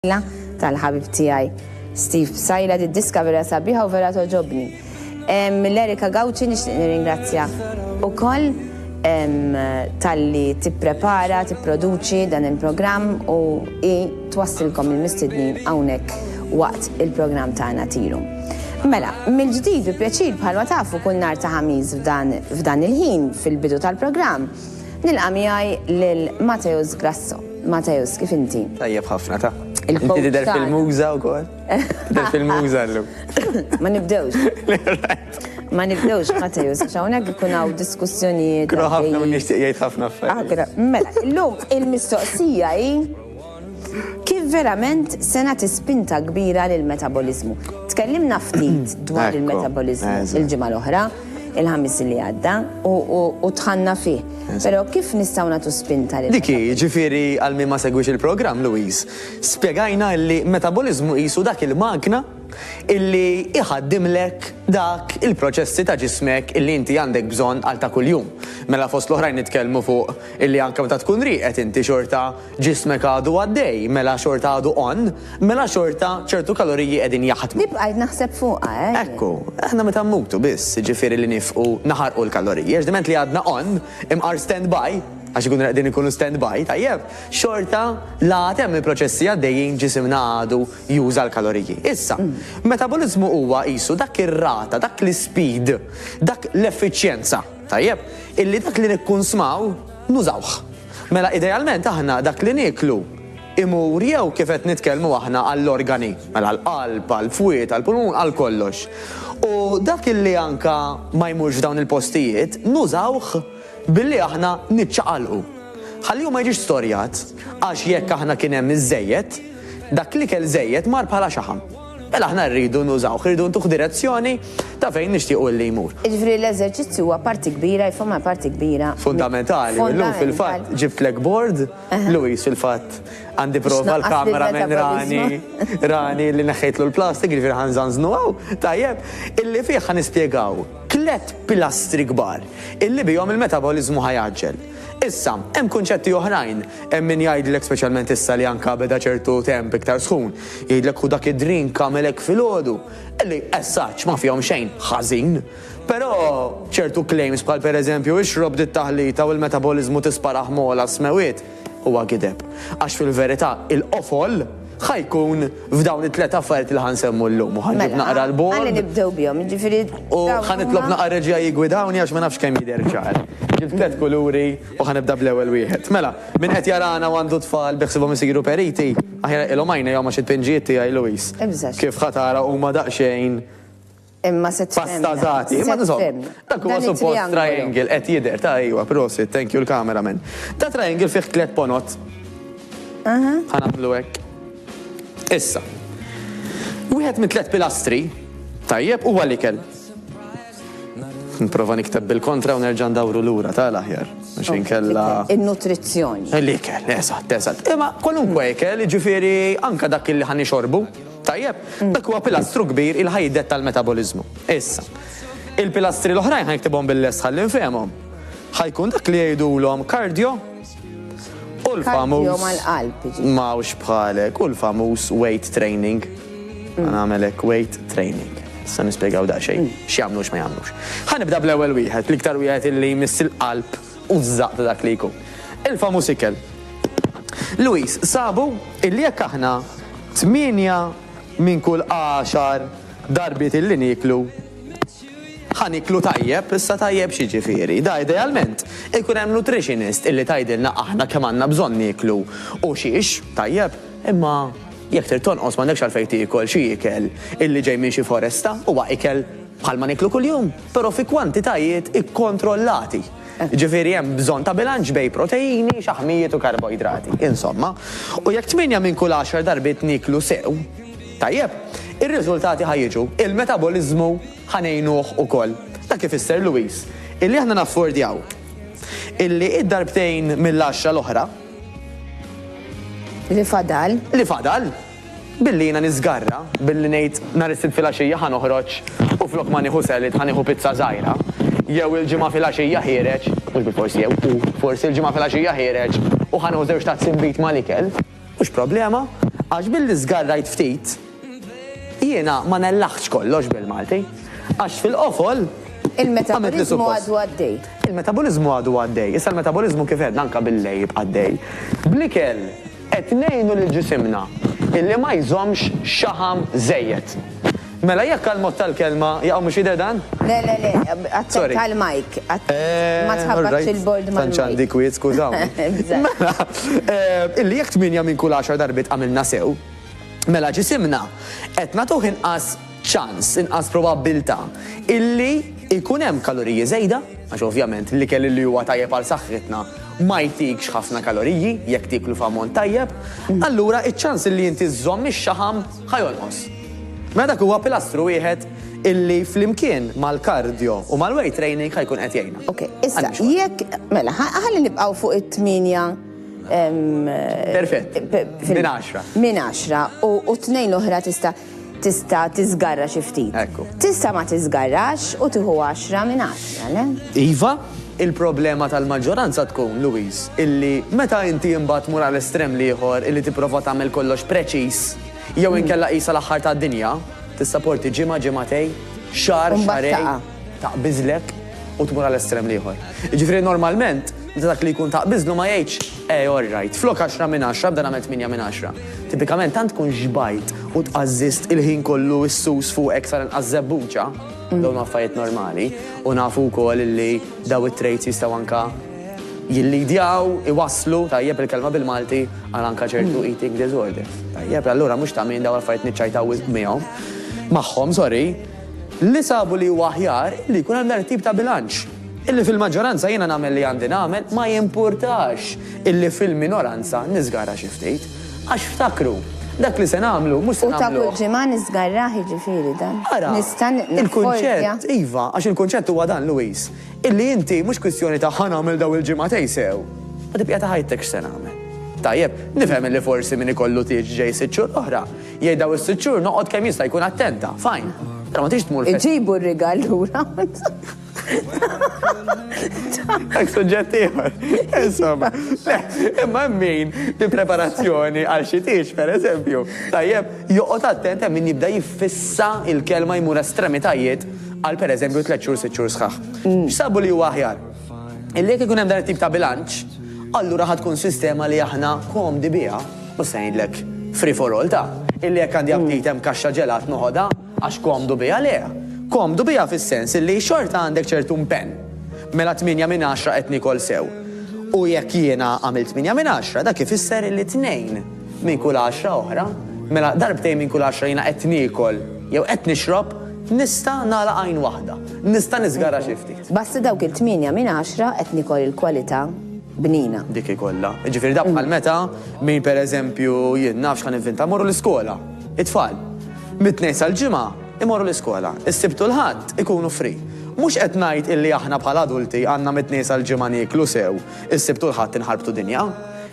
Psaila tal-ħabib tiegħi Steve Psaila did-diska vera sabiħa u vera togħġobni. Lil Erika Gauci nixtieq nirringrazzjah ukoll talli tipprepara, tipproduċi dan il-programm u hi twassilkom il-mistednin hawnhekk waqt il-programm tagħna Tiru. Mela, mill-ġdid bi pjaċir bħalma tafu kull nhar ta' Ħamis f'dan il-ħin fil-bidu tal-programm nilqa' miegħi lil Mateusz Grasso. Mateusz, kif inti? Tajjeb ħafna ta. Inti tidher fil-muża wkoll. Tidher fil-muża llum. Ma nibdewx. Ma nibdewx Mateusz, għax hawnhekk ikun hawn diskussjonijiet. Kru ħafna u nixtieq jgħid ħafna affarijiet. Ah, mela, illum il-mistoqsija hi kif verament sena tispinta kbira lill-metabolizmu. Tkellimna ftit dwar il-metabolizmu il-ġimgħa l-oħra. il-ħamis li għadda u tħanna fih. Pero kif nistaw natu spinta li. Diki, ġifiri għal min ma segwix il-program, Louise, spiegajna li metabolizmu jisu dak il-magna illi iħaddimlek dak il-proċessi ta' ġismek illi inti għandek bżon għal ta' kuljum. Mela fost l-oħrajn nitkellmu fuq illi anka meta tkun riqet inti xorta Ġismek għadu għaddej, mela xorta għadu on, mela xorta ċertu kaloriji qegħdin jaħdmu. Li bqajt naħseb fuqha, eh? Ekku, aħna meta mmutu biss, jiġifieri li nifqu naħarqu l-kaloriji, għax diment li għadna on, imqar stand by, għax ikunu qegħdin ikunu stand by, tajjeb, xorta la għad hemm il-proċessi għaddejjin ġisimna għadu juża l-kaloriji. Issa, metaboliżmu huwa qisu dak ir-rata, dak l-ispeed, dak l-effiċjenza, tajjeb, illi dak li nikkunsmaw nużawh. Mela idealment aħna dak li nieklu imur jew kif qed nitkellmu aħna għall-organi, mela għall-qalb, għall-fwied, għall-pulmun, għal kollox. U dak li anke ma jmurx f'dawn il-postijiet nużawh billi aħna niċċaqalqu. Ħalli hu ma jiġix storjat, għax jekk aħna kien hemm iż-żejjed, dak l-ikel żejjed mar bħala xaħam. Mela aħna rridu nużawh, irridu ntuh direzzjoni ta' fejn nixtiequ li jmur. Jiġifieri l-eżerċizzju huwa parti kbira, jifhomha parti kbira. Fundamentali, u llum fil-fatt ġibtlek bord, Louise fil-fatt għandi prova l-camera man Rani, Rani li neħħejtlu l-plastik, jiġifieri ħa nżanżnu hawn, tajjeb, illi fih ħa nispjegaw tliet pilastri kbar illi bihom il-metaboliżmu ħa jgħaġġel. Issa, hemm kunċetti oħrajn, hemm min jgħidlek speċjalment issa li anke beda ċertu temp iktar sħun, Jgħidlek hu dak id-drink għamel hekk filgħodu, li as such ma fihom xejn ħażin. Però ċertu claims bħal pereżempju ixrob di t-taħlita u l-metaboliżmu tisparah m'għola s-smewwiet huwa gideb. Għax fil-verità il-qofol ħa jkun f'dawn it-tliet affarijiet li ħa nsemmu llum u ħa nġib mela, naqra l-bord. Ħalli nibdew bihom, jiġifieri. U ħa nitlob naqra reġija jigwidawni għax ma nafx kemm jidher ċar. Ġibt tliet kuluri U ħa nibda bl-ewwel wieħed. Mela, min qed jarana u għandu tfal bi ħsiebhom isiru periti, aħjar iqilhom għajnejhom għax it-tpinġijiet tiegħi, Louise, kif ħa tara huma daqsxejn pastazati. Imma insomma, dak huwa suppost triangle, qed jidher, ta' ejwa, prosit, thank you l-camera man. Da triangle fih tliet ponot. Ħa nagħmlu hekk. Issa, wieħed mit-tliet pilastri, tajjeb, huwa l-ikel. Nipprova nikteb bil-kontra u nerġa' ndawru lura ta' l-aħjar. Għax inkella. In-nutrizzjoni. L-ikel, eżatt, eżatt. Imma kwalunkwe ikel, jiġifieri anke dak li ħa nixorbu, tajjeb, dak huwa pilastru kbir il ħa jiddetta l-metaboliżmu. Issa, il-pilastri l-oħrajn ħa niktibhom bil-lest ħalli nfehmhom. Ħa jkun dak li jgħidulhom cardio. U l-famuż mawx bħalek, u l-famuż weight training. Mm. Għan għamelek weight training. Sa nispiegaw da xejn, mm. x'jagħmlu x'ma jagħmlux. Ħanibda bl-ewwel wieħed, l-iktar wieħed illi jmiss il-qalb u żaq ta' dak li jkun. Il-famuż ikel. Luis, sabu illi jekk aħna tmienja minn kull għaxar darbiet illi niklu Ħa nieklu tajjeb, issa tajjeb x'jiġifieri? Da idealment, ikun hemm nutritionist illi tgħidilna aħna kemm għandna bżonn nieklu u xiex, tajjeb, imma jekk trid tonqos m'għandekx għalfejn tiekol xi ikel illi ġej minn xi foresta, huwa ikel bħalma nieklu kuljum, però fi kwantitajiet ikkontrollati. Jiġifieri hemm bżonn ta' bilanċ bejn proteini, xaħmijiet u karboidrati, insomma. U jekk tmienja minn kull għaxar darbiet nieklu sew, Tajjeb, ir-riżultati ħa jiġu, il-metaboliżmu ħa ngħinuh ukoll. Dak ifisser, Louise, illi aħna naffordjaw illi d-darbtejn mill-għaxra l-oħra. Li fadal. Li fadal, billi jiena niżgarra, billi ngħid nhar is-Sibt filgħaxija ħa noħroġ u flok ma nieħu salad ħa nieħu pizza żgħira, jew il-Ġimgħa filgħaxija ħiereġ, mhux bil-fors jew, hu, forsi l-Ġimgħa filgħaxija ħiereġ u ħa nieħu żewġ tazzi nbid mal-ikel. Mhux problema, għax billi żgarrajt ftit, jiena ma nellaħtx kollox bil-Malti, għax fil-qofol, Il-metaboliżmu għadu għaddej. Il-metaboliżmu għadu għaddej. Issa l-metaboliżmu kif għedna anke bil-lejl jibqa' għaddej. Bl-ikel qed ngħinu lil ġisimna illi ma jżommx xaħam żejjed. Mela jekk għall-mod tal-kelma jaqaw mhux jidher dan? Le le le, attent għall-mike. Eehh, ma tħabbatx il-bord mal-mike. Tant x'għandi kwiet, skużawni. Mela, illi jekk tmienja minn kull għaxar darbiet għamilna sew, mela ġisimna qed nagħtuh inqas ċans, inqas probabbiltà illi jkun hemm kaloriji żejda, għax ovvjament l-ikel illi huwa tajjeb għal saħħitna ma jtikx ħafna kaloriji jekk tieklu f'ammont tajjeb, allura iċ-ċans illi inti żżomm ix-xaħam, ħa jonqos. Mela dak huwa pilastru wieħed illi flimkien mal-kardjo u mal-weight training ħa jkun qed jgħinna. Ok, issa jekk mela ħalli nibqgħu fuq it-tminja Perfett. Min 10. Min 10 u tnejn l-oħra tista' tista' tiżgarra xi ftit. Tista' ma tiżgarrax u tieħu 10 minn 10, le? Iva, Il-problema tal-maġġoranza tkun, Louis, illi meta inti imbagħad tmur għal estrem l-ieħor illi tipprova tagħmel kollox preċiż, jew inkella qisha l-aħħar tad-dinja, tista' porti ġimgħa, ġimgħatej, xahar, xahrejn, taqbiżlek u tmur għal estrem l-ieħor. Jiġifieri normalment, meta dak li jkun taqbiżlu ma jgħidx, eh all right, flok għaxra minn għaxra bda nagħmel tmienja minn għaxra. Tipikament tant tkun xbajt u tqażżiżt il-ħin kollu s-sus fuqek sar inqas żebbuġa, Dawn affarijiet normali u nafu wkoll li daw it-traits jistgħu anka jillidjaw, iwasslu, tajjeb il-kelma bil-Malti, għal anka ċertu hmm. eating disorders. Tajjeb, allura mhux ta' minn daw affarijiet niċċajtaw miegħhom. Magħhom, sorry, li sabu li huwa aħjar li jkun hemm dar tip ta' bilanċ. Illi fil-maġġoranza jiena nagħmel li għandi nagħmel ma jimpurtax illi fil-minoranza niżgara xi ftit. Għax ftakru, dak li se nagħmlu mhux se nagħmluh. U ta' kull ġimgħa niżgarrah jiġifieri dan. Ara, il-kunċett, iva, għax il-kunċett huwa dan, Louise, illi inti mhux kwistjoni ta' ħa nagħmel dawn il-ġimgħatej sew, ma tibqja ta' ħajtek x'se nagħmel. Tajjeb, nifhem illi forsi min ikollu tieġ ġej sitt xhur oħra, jgħid dawn is-sitt xhur noqgħod kemm jista' jkun attenta, fajn. Però ma tridx tmur. Iġibu r-rigal lura. Għak suġġett ieħor. Insomma, imma min bi preparazzjoni għal xi tiex, per eżempju, tajjeb, joqgħod attent hemm min jibda jiffissa il-kelma jmur estremitajiet għal per eżempju tliet xhur sitt xhur sħaħ. Mm. X'sabu li huwa aħjar? Illi jekk ikun hemm dan it-tip ta' bilanċ, allura ħad tkun sistema li aħna komdi biha, u se ngħidlek free for all ta' illi jekk għandi aptit hemm kaxxa ġelat noħodha, Għax komdu biha le. Komdu biha fis-sens illi xorta għandek ċertu mpenn. Mela tmienja minn għaxra qed niekol sew. U jekk jiena għamilt tmienja minn għaxra dak ifisser illi tnejn minn kull għaxra oħra, mela darbtejn minn kull għaxra jiena qed niekol jew qed nixrob, nista' nagħlaq għajn waħda. Nista' niżgarra xi ftit. B'assi dawk il-tmienja minn għaxra qed niekol il-kwalità bnina. Dik hi kollha. Jiġifieri dak bħal meta min pereżempju jien nafx ħa nivvinta mmorru l-iskola. It-tfal. Mit-Tnejn sal-Ġimgħa imorru l-iskola, is-Sibt u l-Ħadd ikunu free. Mhux qed ngħid illi aħna bħala adulti għandna mit-Tnejn sal-Ġimgħa nieklu sew, is-Sibt u l-Ħadd inħarbtu dinja.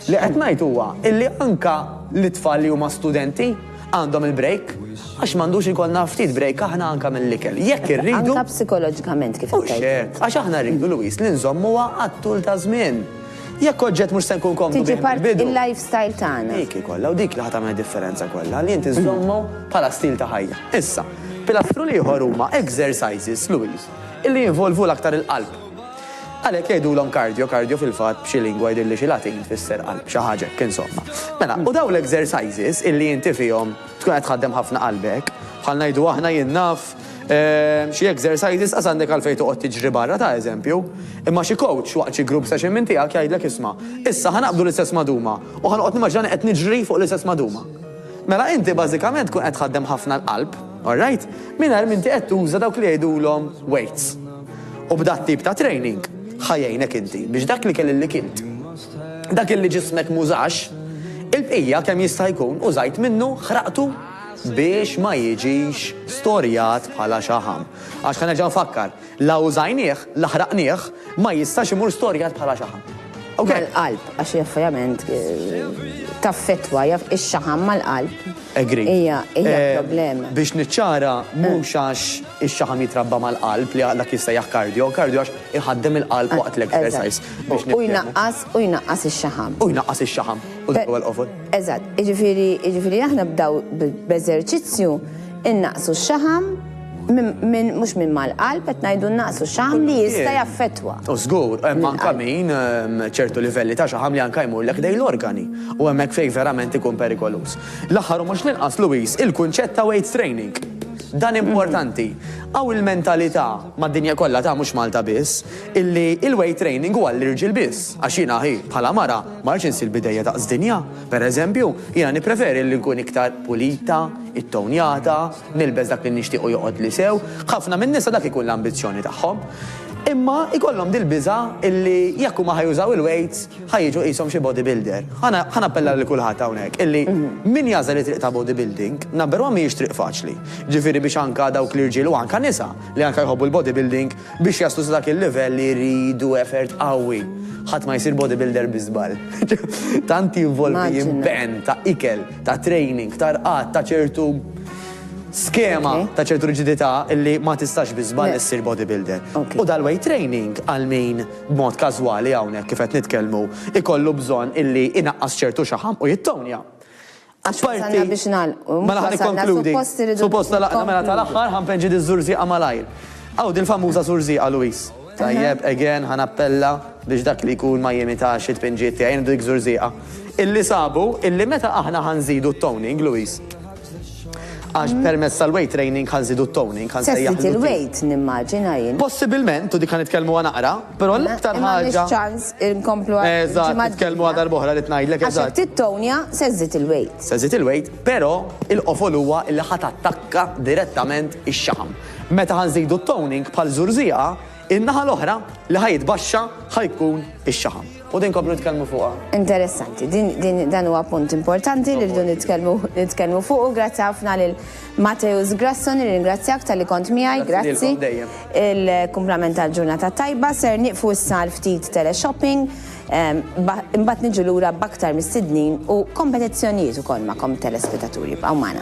Li qed ngħid huwa illi anke l-itfal li huma studenti għandhom il-break, għax m'għandux ikollna ftit break aħna anke mill-ikel, jekk irridu. Anke psikoloġikament kif qed tgħid int. Mhux hekk, għax aħna rridu, Louise, li nżommuha għat-tul taż-żmien. Jekk oġġett mhux se nkun komdu bih mill-bidu. Tiġi part il-lifestyle tagħna. Dik hi kollha u dik li ħa tagħmel differenza kollha, li inti żżommu bħala stil ta' ħajja. Issa, pilastru l-ieħor huma exercises, Louise, illi jinvolvu l-aktar il-qalb. Għalhekk jgħidulhom cardio, cardio fil-fatt b'xi lingwa jidhirli xi Latin tfisser qalb, xi ħaġa hekk insomma. Mela, u dawn l-exercises illi inti fihom tkun qed tħaddem ħafna qalbek, bħal ngħidu aħna jien naf Xi exercises qas għandek għalfejn toqgħod tiġri barra ta' eżempju. Imma xi coach waqt xi group session minn tiegħek jgħidlek isma', issa ħa naqbdu l-istess maduma u ħa noqgħod nimmaġinani qed niġri fuq l-istess maduma. Mela inti bażikament tkun qed tħaddem ħafna l-qalb, alright, mingħajr m'inti qed tuża dawk li jgħidulhom weights. U b'dat-tip ta' training ħa jgħinek inti biex dak l-ikel illi kilt, dak illi ġismek m'użax, il-bqija kemm jista' jkun użajt minnu, ħraqtu. biex ma jiġix storjat bħala xaħam. Għax ħa nerġa' nfakkar, la użajnieh, la ħraqnieh, ma jistax imur storjat bħala xaħam. Ok? Mal-qalb, għax hija ovvjament taffettwa, hija x-xaħam mal-qalb. Agree. Hija problema. Biex niċċara, mhux għax ix-xaħam jitrabba mal-qalb li dak jissejjaħ cardio, cardio għax iħaddem il-qalb waqt l-exercise. U jnaqqas, u jnaqqas ix-xaħam. U jnaqqas ix-xaħam. U dak huwa l-qofol. Eżatt, jiġifieri jiġifieri aħna b'daw b'eżerċizzju innaqsu x-xaħam minn mhux minn mal-qalb qed ngħidu nnaqsu x-xaħam li jista' jaffettwa. U żgur, hemm anke min ehm, ċertu livelli ta' xaħam li anke jmurlek dejn l-organi u hemmhekk fejn verament ikun perikoluż. L-aħħar u mhux l-inqas Luis, il-kunċett ta' weight training. Dan importanti. Għaw il-mentalità mad-dinja kollha ta' mhux Malta biss, illi il-weight training huwa l-irġiel biss, għax jiena ħi bħala mara Ma rridx insir bidejja daqs dinja. Per eżempju, jiena nippreferi li nkun iktar pulita, ittownjata, nilbes dak li nixtieq u joqgħodli sew. Ħafna min-nisa dak ikun l-ambizzjoni tagħhom. Imma jkollhom dil-biża' illi jekk huma ħa jużaw il-weights ħa jiġu qishom xi bodybuilder. Ħa nappella lil kulħadd hawnhekk illi min jagħżel it-triq ta' bodybuilding, number one mhijiex triq faċli. Jiġifieri biex anka dawk l-irġiel u anka nisa li anka jħobbu l-bodybuilding Biex jaslu sa dak il-livell iridu effort qawwi. Ħadd ma jsir bodybuilder bi żball. Tant jinvolvi impenn ta' ikel, ta' training, ta' rqad, ta' ċertu skema, ta' ċertu riġidità li ma tistax bi żball issir bodybuilder. U dal-weight training għal min b'mod każwali hawnhekk kif qed nitkellmu ikollu bżonn illi inaqqas ċertu xaħam u jittonja. Apparti, mela ħa nikkonkludi. Suppost talaqna mela tal-aħħar ħa npeġġi diż-żurżieqa malajr. Hawn dil-famuża żurżieqa, Louise. Tajjeb, again, ħa nappella biex dak li jkun ma jimitax it-tpinġijiet tiegħi. Nieħdu dik żurżieqa. Illi sabu illi meta aħna ħa nżidu t-toning, Louise, għax permezz tal-weight training ħa nżidu t-toning, ħa nsejjaħlu. Se żżid il-weight nimmaġina jien. Possibilment, u dik ħa nitkellmuha naqra, Però l-aktar Imma ħaġa. m'għandniex ċans inkomplu għal Eżatt, il-ġimgħa nitkellmu għal d-dieħla. darb'oħra rrid ngħidlek, Għax jekk eżatt. tittownja se żżid il-weight. Se żżid il-weight, però il-qofol huwa li ħa tattakka direttament ix-xaħam. Meta ħa nżidu t-toning bħal żurżieqa, in-naħa l-oħra li ħa jitbaxxa ħa jkun ix-xaħam. U din nkomplu nitkellmu fuqha. Interessanti, din, din, dan huwa punt importanti li rridu nitkellmu, nitkellmu fuqu. Grazzi ħafna lil Mateusz Grasso nirringrazzjak talli kont miegħi, grazzi. Il-kumplament tal-ġurnata tajba ser nieqfu issa għal ftit teleshopping, imbagħad niġu lura b'aktar mistednin u kompetizzjonijiet ukoll magħkom telespetaturi. Bqgħu magħna.